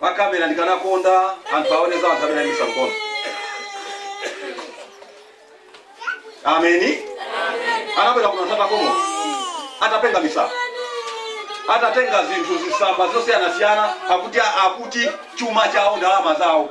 pa camera ndikanakonda anthu aone za anthu amene aimitsa mkono ameni anabwera kuno anthu atakomoka atapenga misala atatenga zinthu zisamba zosiyanasiyana akuti akuti chuma chawo ndalama zawo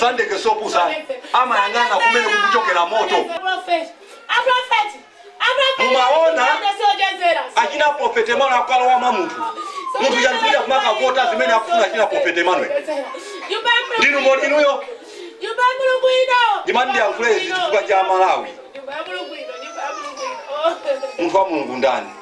Sandike si opusa, amayang'ana kumene kukuchokera moto. Mumaona achina Prophet Emmanuel akalowa mwa munthu. Munthu uja ndikumakavota zimene akufuna achina Prophet Emmanuel. Ndinu mboni inuyo. Ndimati ndiyankhule izi chifukwa cha Malawi. Munthu wa Mulungu ndani?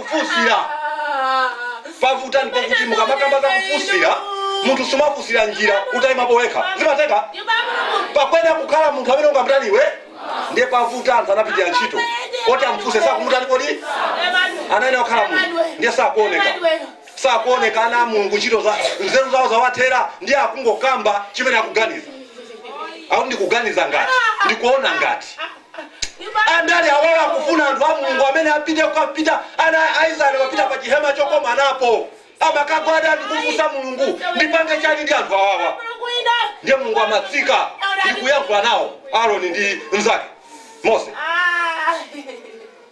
Kufunsira. Pavuta ndipo kuti mukamakamba za kufunsira, munthu sumafunsira njira utayima pa wekha. Zimatheka? Pakuyenera kukhala munthu amene angamutani iwe? Ndiye pavuta anthu anapitira ntchito. Oti amufunse sakumutani kodi? Anayenera kukhala munthu. Ndiye sakuoneka. Sakuoneka ana a Mulungu ntchito za nzeru zawo zawathera ndiye akungokamba chimene akuganiza. Akuti ndikuganiza ngati, ndikuona ngati. Andale awawa akufuna anthu a Mulungu amene apite kuchihema ana a Israel amapita pa chihema chokomanapo amakagwada ndikufunsa Mulungu ndipange chani ndi anthu awawa ndiye Mulungu amatsika ndikuyankhula nawo Aaron ndi mzake Mose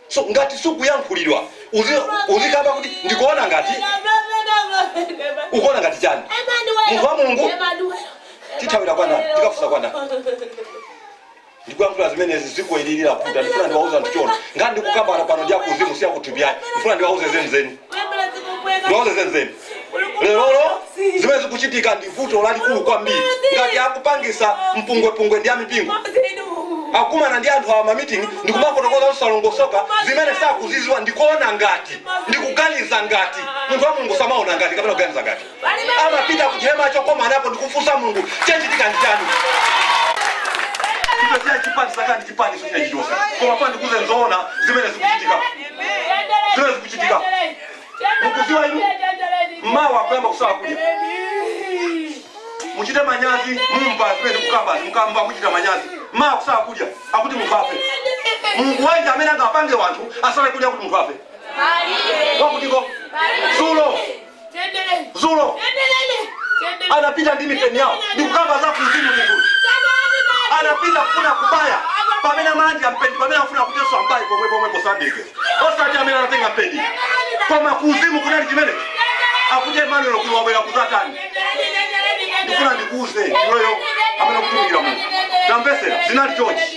so ngati sukuyankhulidwa uzi, uzikamba kuti ndikuona ngati ukuona ngati chani munthu wa Mulungu tithawira kwa ndani tikafunsa kwa ndani ndikuyankhula zimenezi dzikoli lili kutha ndifuna ndiwauze anthu zoona nkhani ndikukamba pano ndi yakuzimu si yakuthupi ayi ndifuna ndiwauze zenizeni ndiwauze zenizeni lerolo zimene zikuchitika ndi vuto lalikulu kwambiri ngati akupangisa mpungwepungwe ndi amipingo akumana ndi anthu awa mamiting ndikumafotokoza zosalongosoka zimene sakuziziwa ndikuona ngati ndikuganiza ngati munthu wa mulungu samaona ngati kapena kuganiza ngati amapita ku chihema chokomanapo ndi kufunsa mulungu chachitika ndi chani chito china chipani saka ndi chipani china chilichonse koma funa ndikuuze zoona zimene zikuchitika zimene zikuchitika mukuziwa inu mmawa akuyamba kusala kudya muchite manyazi mumva zimene ndikukambazi muyamba kuchita manyazi mmawa kusala kudya akuti munthu afe mulungu wanji amene angapange anthu asale kudya kuti munthu afe akuti zulo zulo anapita ndi mipeni yawo ndikukamba za kuzimu ndikulu anapita kufuna kubaya pamene amanola mpeni pamene afuna kuti ambaye pomwe pomwepo sandike osati amene anatenga mpeni koma kuzimu kunali chimenechi akuti emanuelo kuno wabwera kuzatani ndifuna ndikuuze iweyo amene ukutumikira mulungu tamvesera zinali chonchi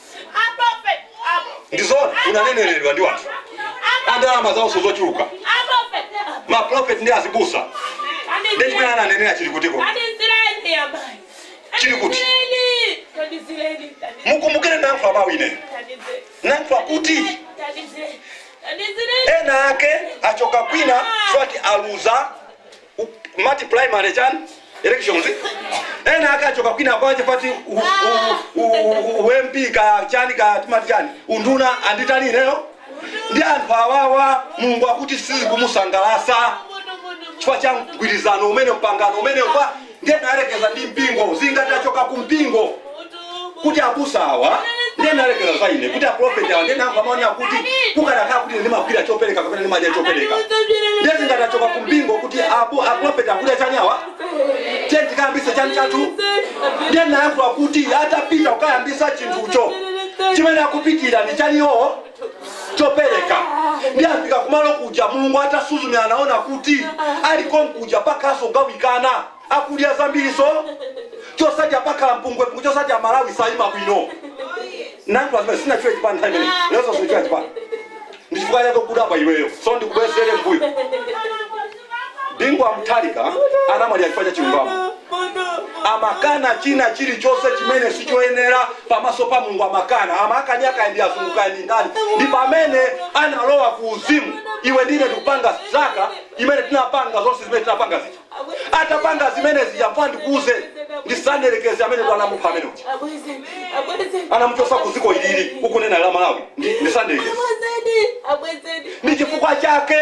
ndi zoona unaneneredwa ndi wanthu andalama zaonso zochuluka ma prophet ndi azibusa ndi chimene ananenera chili kutiko Chili kuti? mukumbukire nankhula bwino ine nankhula kuti ena ake achoka kwina swati aluza u mati primary chani elections ena akachoka kwina kwa chipati u, u, u, u, u MP ka chani ka timati chani unduna anditana ineyo ndi anthu awawa mulungu akuti sizikumusangalasa chifukwa cha mgwirizano umene mpangano umene upa ndiye nayerekeza ndi mpingo zingati achoka ku mpingo kuti abusa awa ndiye nayerekeza za ine kuti aprofeti awa ndiye nankhula mmaona kuti kukanakhala kuti ndimagwira chopereka kapena ndimadya chopereka ndiye zingati achoka ku mpingo kuti abu- aprofeti akudya chani awa tiye tikayambise chani chathu ndiye nayankhula kuti atapita kukayambisa chinthucho chimene akupitira ndi chaniwo chopereka ndiye afika kumalo kuja mulungu atasuzumira anaona kuti ali konkuja pakhalaso kugawikana ena akudya zambiriso chosadya pakhala mpungwepungwe chosadya malawi sayima bwino nankhula zimene sinatchule chipani nthawi imene lezo sinatchule chipani ndichifukwa chake kudabwa iweyo so ndikubwezere mbuyo bingu wa mutharika anamwalira chifukwa cha chilungamo amakana china chilichonse chimene sichoyenera pamaso pa mulungu amakana amakani kaya ndi azungu kaya ndi ndani ndi pamene analowa ku uzimu iwe ndi ine ndikupanga zaka imene tinapanga zonse zimene tinapanga zija atapanga zimene zija ndifuna ndikuuze ndisanderekeze amene ndo anamupha amene uja anamuchosa ku dziko ilili ukunena la malawi ndi- ndisanderekeze ndi chifukwa chake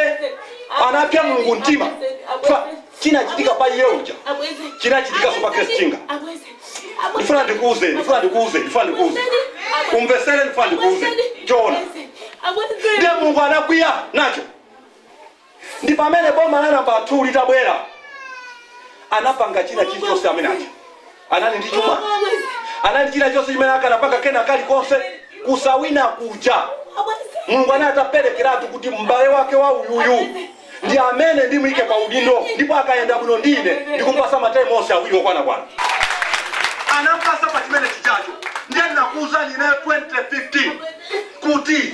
anapsa mulungu mtima Fa- chinachitika pa iye uja chinachitikanso pa Grace Chinga. ndifuna ndikuuze ndifuna ndikuuze ndifuna ndikuuze umvesere ndifuna ndikuuze choona ndiye mulungu anakwiya nacho ndi pamene boma la namba 2 litabwera anapanga china chilichonse amene aja anali ndi chuma anali ndi china chonse chimene akanapanga kena kalikonse kusawina kuja mulungu anali ataperekeratu kuti m'bale wake wa uyuyu ndi amene ndimuyike pa udindo ndipo akayenda bwino ndi ine ndikumpasa ma term onse awiri okwanakwana anampasa pa chimene chijacho ndiye ndinakuwuzani ineyo 2015 kuti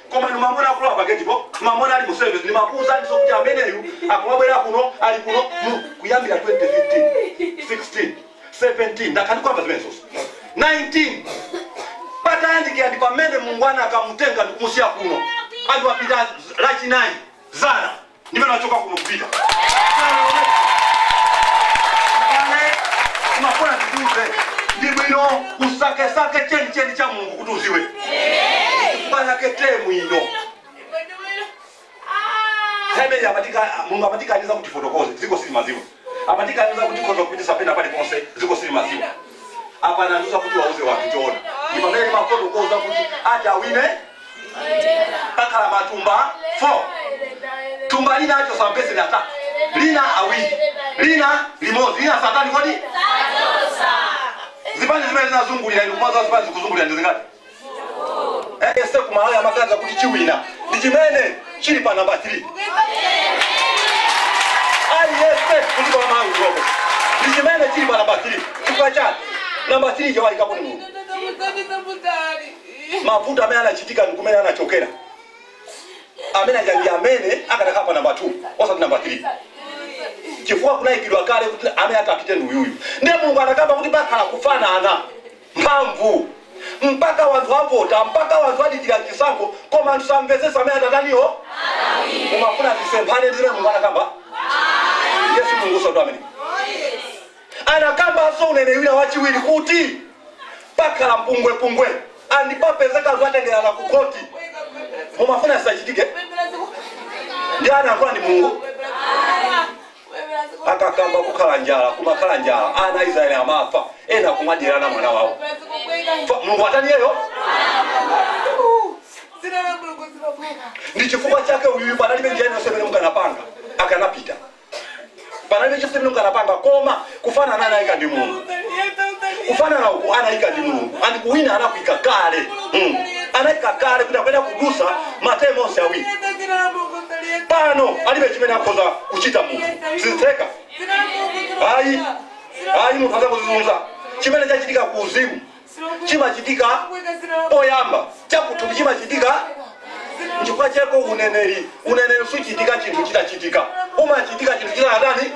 Koma inu mmamuona akulowa pa gate po, mmamuona ali mu service ndimakuuzaniso kuti ameneyu akumabwera kuno, ali kuno mu, kuyambira 2015, 16, 17, ndakhala ndikuamba zimenezozo, 19, patayandikira ndi pamene Mulungu anakamutenga nkumusiya kuno, anthu anapita lachinayi, zana. ndimene achoka kuno kupita paje umafuna ndikuuze ndi bwino usakesake chenicheni cha mulungu kuti udziwe chifukwa chake te mwino hemeli amatika mulungu amatikaniza kuti tifotokoze dziko silimadziwa Amatikaniza kuti tikhoza kupititsa pena paliponse dziko silimadziwa. Apa anandiuza kuti wauze wanthu choona ndipamene ndimafotokoza kuti amene ati awine pakhala matumba 4 thumba lina achotsa mapesenti atatu lina awiri lina limodzi lina satani kodi zipani zimene zinazungulira ndikumadza zipani zikuzungulira ndizingati aliyense ku malawi amaganiza kuti chiwina ndi chimene chili pa namba 3 aliyense kuti kwa malawi kunopo ndi chimene chili pa namba 3 chifukwa chake namba 3 chawayikapo ni mulungu mavuto amene anachitika ndi kumene anachokera amene aja ndi amene akadakhala pa namba 2 osati namba 3 chifukwa kunayikidwa kale kuti amene atapite ndi uyuyu ndiye mulungu anakamba kuti pakhala kufanana mphamvu mpaka wanthu avota mpaka wanthu adikira chisankho koma anthu samvetsetsa amene atataniyo mumafuna tisemphane ndizimene mulungu anakamba yesu mulungu usatu amene anakambanso uneneri wina wachiwiri kuti pakhala mpungwepungwe and papezeka anthu atengerana ku khoti mumafuna zisachitike ndiye anayankhula ndi mulungu akakamba kukhale njala kumakhala njala ana a israeli amafa ena kumadyerana mwana wawo mulungu ataniyeyo ndi chifukwa chake uyu panalibe njira yonse imene mukanapanga akanapita panalibe chonse chimene mukanapanga koma kufanana anaika ndi mulungu kufanana uku anaika ndi mulungu and kuwina anakuika kale mm. anaika kale kuti akuyenera kudutsa matemu onse awiri pano alibe chimene akhoza kuchita munthu sizitheka ayi munthu adzakudzizunza chimene chachitika ku uzimu chimachitika poyamba chakuthupi chimachitika nchifukwa chake uneneri uneneri suchitika chinthu chitachitika umachitika chinthu chisanatani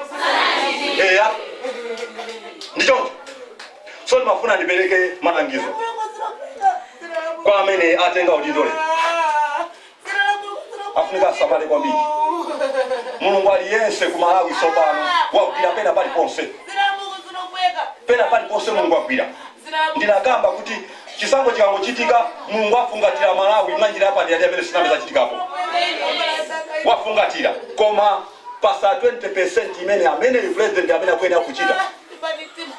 eya ndicho so ndimafuna ndipereke malangizo kwa amene atenga udindo lero afunika asamale kwambiri mulungu ali yense ku malawi tsopano wagwira pena paliponse pena paliponse mulungu agwira ndinakamba kuti chisankho chikangochitika mulungu afungatira malawi mwa njira yapadera ndi imene sinayambe yachitikapo wafungatira koma pa za 20 imene amene president amene akuyenera kuchita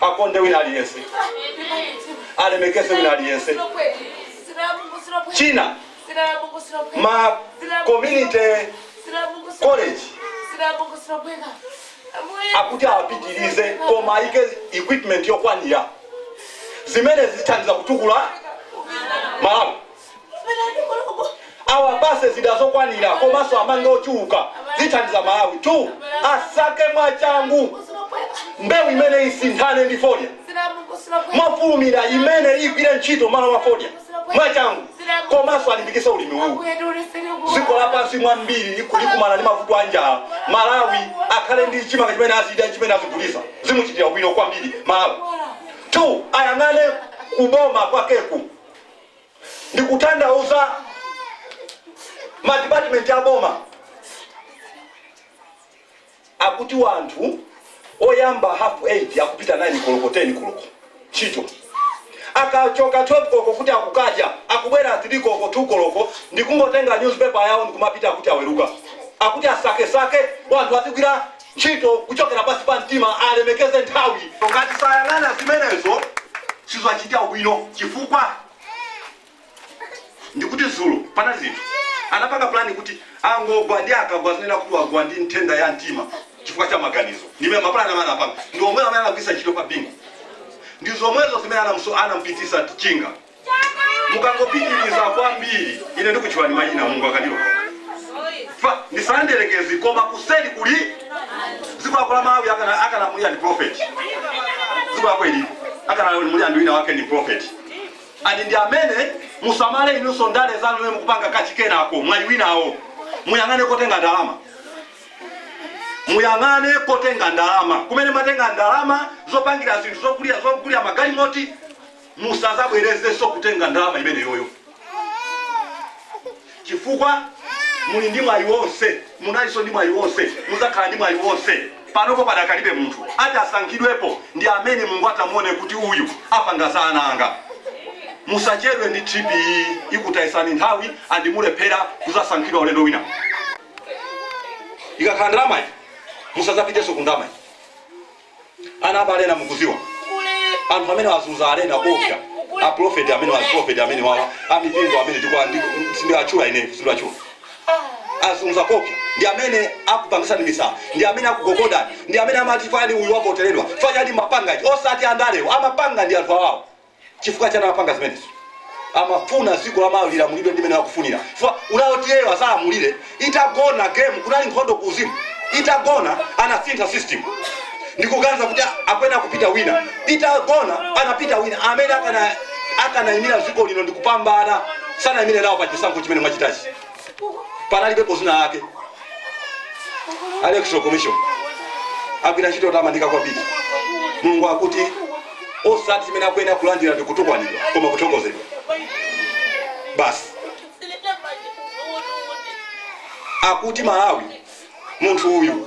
akonde wina aliyense alemekeze wina aliyense china ma community college akuti apitirize koma ayike equipment yokwanira zimene zithandiza kutukula malawi awapase zida zokwanira komanso amange ochuluka zithandiza malawi two asake mwachangu mbewu imene isinthane ndi fodya mofulumira imene igwire ntchito malo mwa fodya mwachangu komanso alimbikitse ulimi uwu dziko lapansi mwa mbiri liku- likumana ndi mavuto a njala malawi akhale ndi chimanga chimene azidya chimene azigulisa zimuchitira bwino kwambiri malawi two ayang'ane kuboma kwakeku ndikutanthauza madipatimenti a boma akuti wanthu oyamba half 8 akupita 9 koloko 10 koloko ntchito akachoka 12 koloko kuti akukadya akubwera 3 koloko 2 koloko ndikungotenga news paper yawo ndikumapita akuti aweruka akuti asakesake wanthu azigwira ntchito kuchokera pansi pa mtima alemekeze nthawi ngati sayang'ana zimenezo sizachita bwino chifukwa ndikuti dzulo panali zinthu anapanga plan kuti angogwa ndi akagwa adzanena kuti wagwa ndi nthenda ya mtima chifukwa cha maganizo ndimene mapulani amene anapanga ndi omwewo amene anagwiritsa ntchito pa bingu ndi zomwezo zimene anamso- anampitisa chinga mukangopitiriza kwambiri ine ndikutchulani mayina Mulungu akatero Fa- ndisanderekezi koma kuseri kuli dziko lako la malawi akana- akulamulira ndi profeti dziko lako ili akulamulira ndi wina wake ndi profeti And ndi amene musamale inunso ndale zanu zimene mukupanga kachikenako mwayi winawo muyang'ane kotenga ndalama muyang'ane kotenga ndalama kumene mumatenga ndalama zopangira zinthu zogulira magalimoti musazabwerezenso kutenga ndalama imeneyoyo chifukwa muli ndi mwayi wonse, munalinso ndi mwayi wonse, mudzakhala ndi mwayi wonse. Panopo padakalibe munthu ati asankhidwepo ndi amene Mulungu atamuone kuti uyu apanga za ana anga. Musachedwe ndi trip, ikutayisani nthawi and mulephera kuzasankhidwa ulendo wina. Ikakhala ndalamayi, musazapitenso ku ndalamayi. ana aba alena mukuziwa anthu amene awazunza alena kopya aprofeti amene waprofeti amene awawa amipingo amene ndikwa ndi- sindiwatchula ine sindiwatchula azunza kopya ndi amene akupangisani misala ndi amene akugogodani ndi amene amati fani uyu wavoteredwa fanyani mapanga ichi osati andalewo amapanga ndi anthu awawo chifukwa chani amapanga zimenezo amafuna dziko la malawi lilamulidwe ndimene akufunira chifukwa uja oti iyeyo adzalamulire itagona game kunali nkhondo ku uzimu itagona anasintha system ndikuganiza kuti akuyenera kupita wina itagona anapita wina amene akana akanayimira dziko lino ndikupambana sanayimire nawo pa chisankho chimene mwachitachi panalibepo zina lake a electoral commission agwira ntchito yotamandika kwambiri mulungu akuti osati zimene akuyenera kulandira ndi kutukwanidwa koma kuthokozedwa basi akuti malawi munthu uyu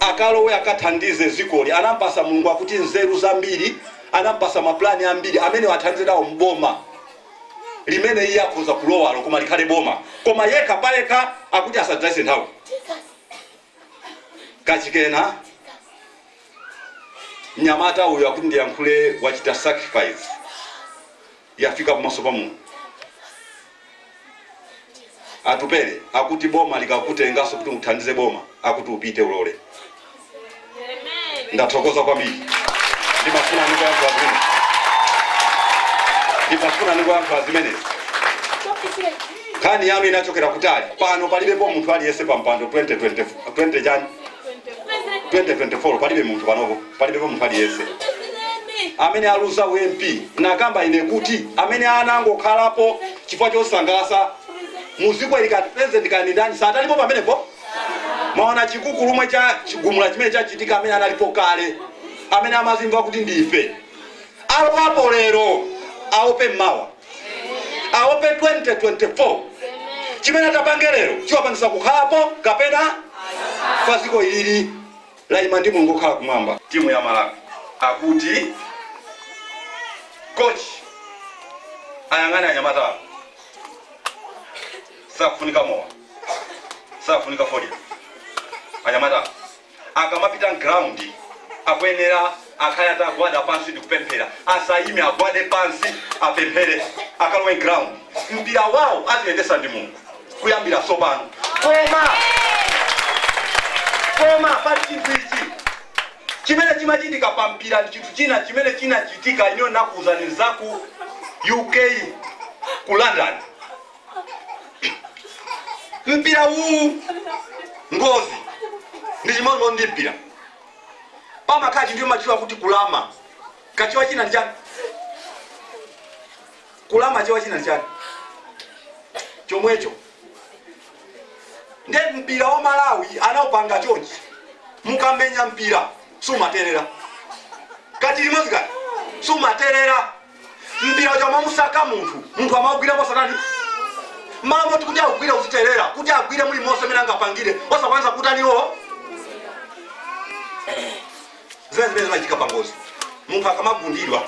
akalowe akathandize zikoli anampasa mulungu akuti nzeru zambiri anampasa ma plan ambiri amenewo athandize nawo m'boma limene iye akhoza kulowalo koma likhale boma koma yekha payekha akuti asadzayise nthawi kachikena mnyamata uyu akuti ndiyankhule wachita sacrifice yafika pamaso pa Mulungu. Atupele akuti boma likakutenganso kuti uthandize boma akuti upite ulole. Ndathokoza kwambiri. Ndimafuna ndingoyankhula zimenezi. Ndimafuna ndingoyankhula zimenezi. Nkhani yanu inachokera kutali. Pano palibepo munthu aliyense pa mpando 2020 20 chani 2024 palibe munthu panopo. Palibepo munthu aliyense amene aluza u MP nakamba ine kuti amene anangokhalapo chifukwa chosangalasa muziko ili kati president kaya ndi ndani sadalipo pamenepo mwaona chikukulumwe cha chigumula chimene chachitika amene analipo kale amene amazimva kuti ndife alowapo lero aope mawa aope 2024 chimene atapange lero chiwapangisa kukhalapo kapena ayi ziko ilili Laima ndi mulungu wokhala kumwamba. Timu ya Malawi akuti coach ayang'ane anyamata awa sakufunika mowa sakufunika fodya anyamata awa akamapita m'ground akuyenera Akhale atagwada pansi ndikupemphera. Asayime, agwade pansi, apemphere, akalowe m'ground. Mpira wawo aziyendetsa ndi Mulungu kuyambira tsopano. Koma, koma pali chinthu ichi chimene chimachitika pa mpira ndi chinthu china chimene chinachitika ineyo nakuwuzani zaku UK ku London. Mpira uwu ngozi ndi chimodzimodzi ndi mpira. pamakhala chinthu imatchula kuti kulama kachiwa china ndi chani kulama chiwa china ndi chani chomwecho nde mpira wa malawi anaupanga chonchi mukamenya mpira sumaterera kati limodzi kati sumaterera mpira uja umamusaka munthu munthu amaugwira mosatani mmalo moti kuti augwire uziterera kuti agwire muli monse amene angapangire osakwanisa kutaniwo zimene zimachitika pangozi munthu akamagundidwa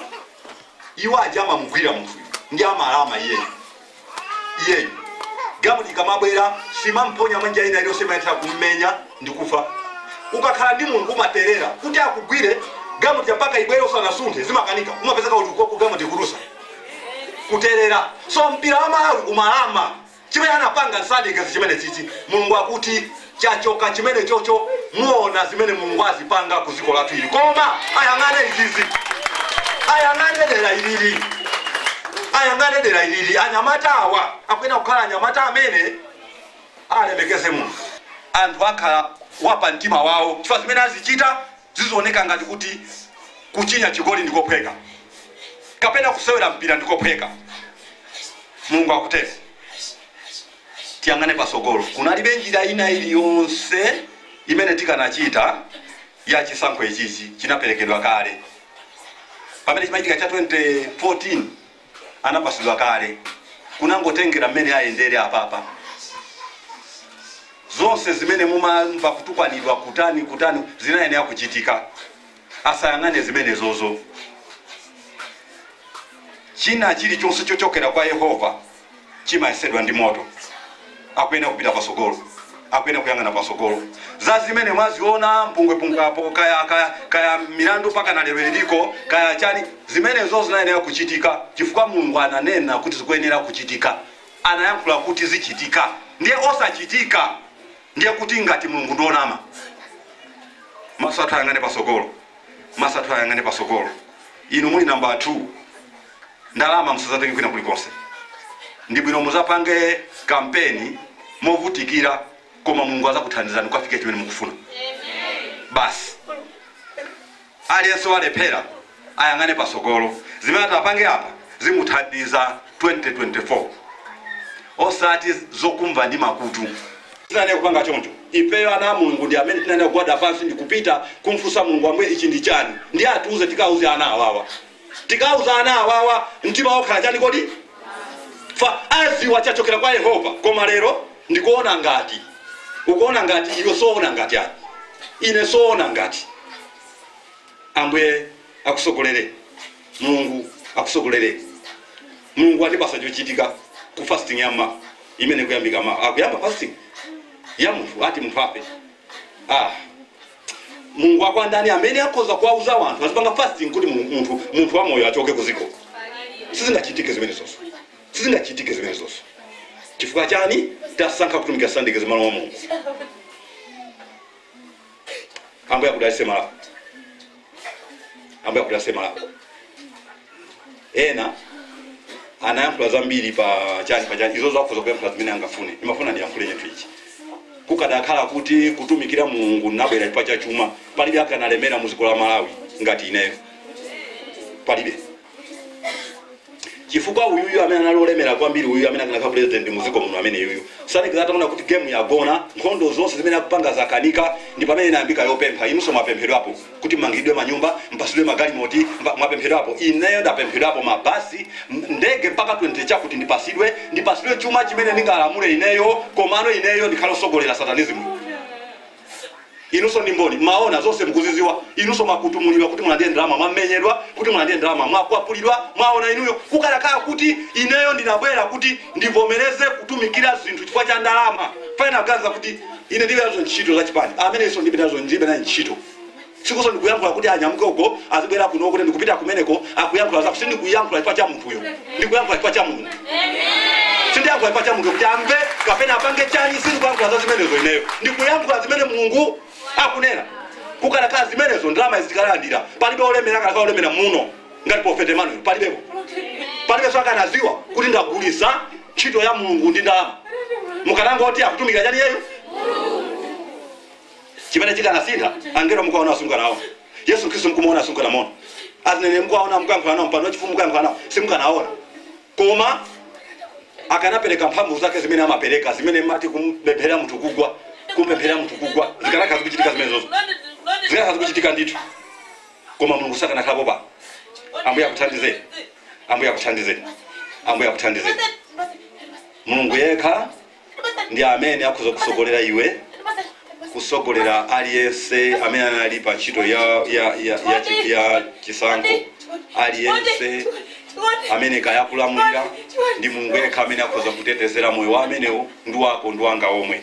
iwo aja amamugwira munthuyo ndi amalama iyeyo iyeyu gamuti ikamabwera simamponya manja ina iliyonse imatha kummenya ndi kufa ukakhala ndi munthu umaterera kuti akugwire gamuti mpaka ibwere usanasunthe zimakanika umapezeka kuti uko- gamuti kurusa kuterera so mpira wa malawi umalama chimene anapanga nsadikezi chimene chichi mulungu akuti chachoka chimenechocho muona zimene mulungu azipanga ku dziko lathu ili koma ayang'ane izizi ayang'ane dera ilili ayang'ane dera ilili anyamata awa akuyena kukhala anyamata amene alemekeze mulungu anthu akhala wapa mtima wawo chifukwa zimene azichita zizioneka ngati kuti kuchinya chigoli ndikophweka kapena kusewera mpira ndikophweka mulungu akutero tiyang'ane pasogolo. Kunalibe njira ina iliyonse imene tikanachita ya chisankho ichichi chinaperekedwa kale. Pamene chimachitika cha 2014 anapasidwa kale. Kunangotengera mmene ayendere apapa. Zonse zimene mumamva kutukwanidwa kutani zinayenera kuchitika. Asayang'ane zimenezozo. China chilichonse chochokera kwa Yehova. chimayesedwa ndi moto akuyenera kupita pasogolo akuyenera kuyang'ana pasogolo za zimene mwaziona mpungwepungwe apo kaya, kaya, kaya milandu mpaka na lero iliko kaya chani zimenezo zinayenera kuchitika chifukwa mulungu ananena kuti zikuyenera kuchitika anayankhula kuti zichitika ndiye osachitika ndiye kuti ngati mulungu ndi onama maso athu ayang'ane pasogolo maso athu ayang'ane pasogolo inu muli namba 2 ndalama musazatenge kwina kulikonse ndibwino muzapange kampeni movutikira koma mulungu azakuthandizani kufika chimene mukufuna basi aliyense walephera ayang'ane pasogolo zimene atapange apa zimuthandiza 2024 osati zokumva ndi makutu tinane kupanga choncho ifeyo ana a mulungu ndi amene tinane kugwada pansi ndikupita kumfusa mulungu ambuye ichi ndi chani ndi atiuze tikauze ana awawa tikauza ana awawa mtima wawo ukhala chani kodi ifa aziwa chachokera kwa yehova koma lero ndikuona ngati ukuona ngati iwe soona ngati ani ine soona ngati ambuye akusogolere mulungu akusogolere mulungu atipatsa chochitika ku fasting ya ma imene kuyambika ma akuyamba fasting ya munthu ati munthu afe ah mulungu wa kwa ndani amene akhoza kuwauza wanthu azipanga fasting kuti mulungu- munthu munthu wamoyo achoke ku dziko sizingachitike zimenezo sizingachitike zimenezo chifukwa chani tasankha kutumikira sandike zimalo wa mulungu ambuye akudalise malawi ambuye akudalise malawi ena anayankhula zambiri pa chani pa chani izo akhoza kuyankhula zimene angafune ndimafuna ndiyankhule chinthu ichi kukadakhala kuti kutumikira mulungu nabwera chifukwa cha chuma palibe akanalemera mu dziko la malawi ngati ineyo palibe chifukwa uyuyu amene anali olemera kwambiri uyu amene akanakhala president mu dziko muno amene uyuyu sanekeza ataona kuti game yagona nkhondo zonse zimene akupanga zakanika ndi pamene inayambika yopempha inunso mwapemphedwapo kuti mmangiridwe manyumba, mpatsidwe magalimoti, mpa, mwapemphedwapo, ineyo ndapemphedwapo, mabasi, m- ndege mpaka 20 chakuti ndipatsidwe, ndipatsidwe chuma chimene ndingalamule ineyo, komano ineyo ndikhale osogolera satanizimu. Inunso ndi mboni, mmaona zonse mukuziziwa, inunso mwakutumulidwa kuti mulandire ndalama, mwamenyedwa kuti mulandire ndalama, mwakwapulidwa, mwaona inuyo kukanakhala kuti ineyo ndinabwera kuti ndivomereze kutumikira zinthu chifukwa cha ndalama. Pena kuganiza kuti Ine ndilibe nazo ntchito za chipani, amenenso ndilibe nazo ndilibe naye ntchito. Sikutinso ndikuyankhula kuti anyamuke uko azibwera kuno kuti ndikupita kumeneko akuyankhula zako. Sindikuyankhula chifukwa cha munthuyo, ndikuyankhula chifukwa cha Mulungu. Sindiyankhula chifukwa cha munthu kuti amve kapena apange chani, sindikuyankhula za zimenezo ineyo, ndikuyankhula zimene Mulungu akunena. Kukanakhala zimenezo ndalama izi tikanalandira, palibe olemera akanakhala olemera muno ngati Prophet Emmanuel, palibepo palibenso akanaziwa kuti ndagulisa ntchito ya Mulungu ndi ndalama, mukanangoti akutumikira chani iyeyu? Chimene chikanasintha, angelo mukuwaona simukanawaona, Yesu Khristu mkumuona simukanamuona, azineneri mukuwaona mukuyankhula nawo, mpando wachifumu mukuyankhula nawo, simukanaona koma akanapereka mphamvu zake zimene amapereka zimene mumati kumpempherera munthu kugwa kumpempherera munthu kugwa zikanakhala zikuchitika zimenezo zikanakhala zikuchitika ndithu koma mulungu sakanakhalapo pano ambuye akuthandize ambuye akuthandize ambuye akuthandize mulungu yekha ndi amene akhoza kusogolera iwe kusogolera aliyense amene anali pa ntchito ya, ya, ya, ya, chi- ya chisankho aliyense amene kaya akulamulira ndi mulungu yekha amene akhoza kutetezera moyo wa amenewo ndi wako ndi wanga omwe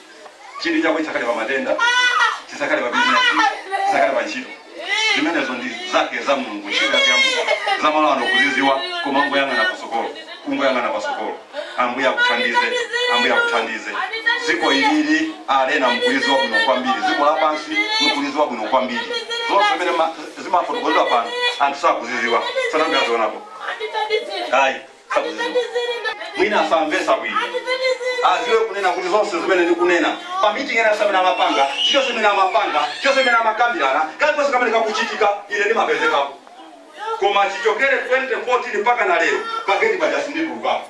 Chidwi chako chisakhale pa matenda, chisakhale pa bizinesi, chisakhale pa ntchito. Zimenezo ndi zake za Mulungu, ntchito yake ya Mulungu. Za malo ano ukuzidziwa, koma ungoyang'ana patsogolo, ungoyang'ana patsogolo. Ambuye akuthandize, Ambuye akuthandize. Dziko ilili, Alena, mukulidziwa bwino kwambiri. Dziko lapansi mukulidziwa bwino kwambiri. Zonse zimene ma, zimafotokozedwa pano, anthu sakuzidziwa, sanayambe azionapo. Ayi. Atithandizeni ngati mwina samvetsa bwino aziwe kunena kuti zonse zimene ndikunena pa meeting ina zimene amapanga chilichonse chimene amapanga chilichonse chimene amakambirana kalikonse kamene kakuchitika ine ndimapezekapo koma chichokere 2014 mpaka na lero pa gate paja sinditulukapo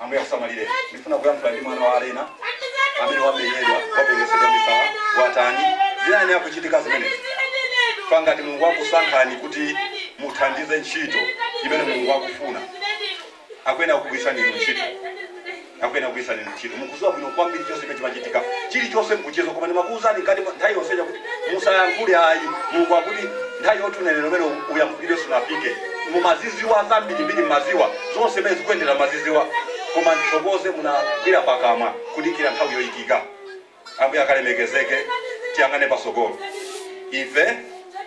ambuye akusamalire ndifuna kuyankhula ndi mwana wa alena amene wamenyedwa wapengetsedwa misala watani dziwani zikuchitika zimenezi ngati mulungu akusankhani kuti muthandize ntchito imene mulungu akufuna akuyenera kugwiritsa inu ntchito akuyenera kugwiritsa inu ntchito mukuziwa bwino kwambiri chonse chimene chimachitika chilichonse mukuchiziwa koma ndimakuwuzani ngati nthawi yonse chakuti musayankhule ayi mulungu akuti nthawi yoti unenere umene uyankhulire siinafike mumaziziwa zambirimbiri mmaziwa zonse mmene zikuyendera mumaziziwa koma ndithokoze munagwira pakamwa kudikira nthawi yoyikika ambuye akalemekezeke tiyang'ane pasogolo ife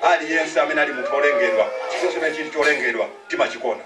aliyense amene ali munthu olengedwa chilichonse chimene chili cholengedwa timachikonda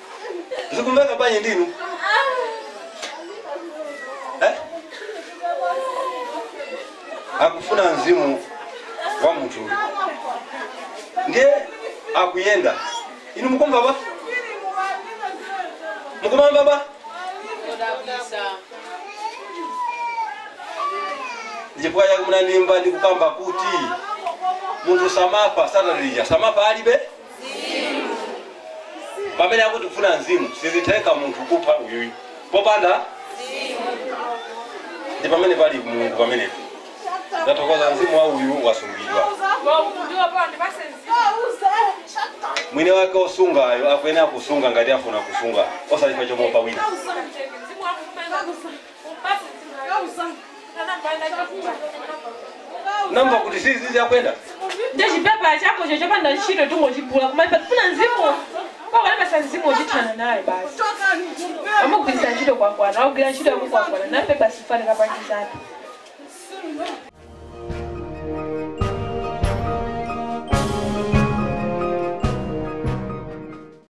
Zikumveka bwanji ndinu? Eh? Akufuna mzimu wa munthu uyu. Ndiye akuyenda. Inu mukumva ba? Mukumva ba? Ndipo yakumna ndimba ndikukamba kuti munthu samafa satalija samafa alibe pamene akuti kufuna mzimu sizitheka munthu kupha uyuyu popanda ndi pamene pali mulungu pamenepo ndathokoza mzimu wa uyu wasungidwa mwini wake osungayo akuyenera kusunga ngati afuna kusunga osati pa chomopa wina namba kuti zizi zikuyenda nde chipepa chako cho chopanda ntchito tingochigula koma ife tifuna mzimu akatipatsa mzimu uchithana naye basi amugwiritsa ntchito kwakwana akugwira ntchito yako kwakwana nafe basi fanira panji zake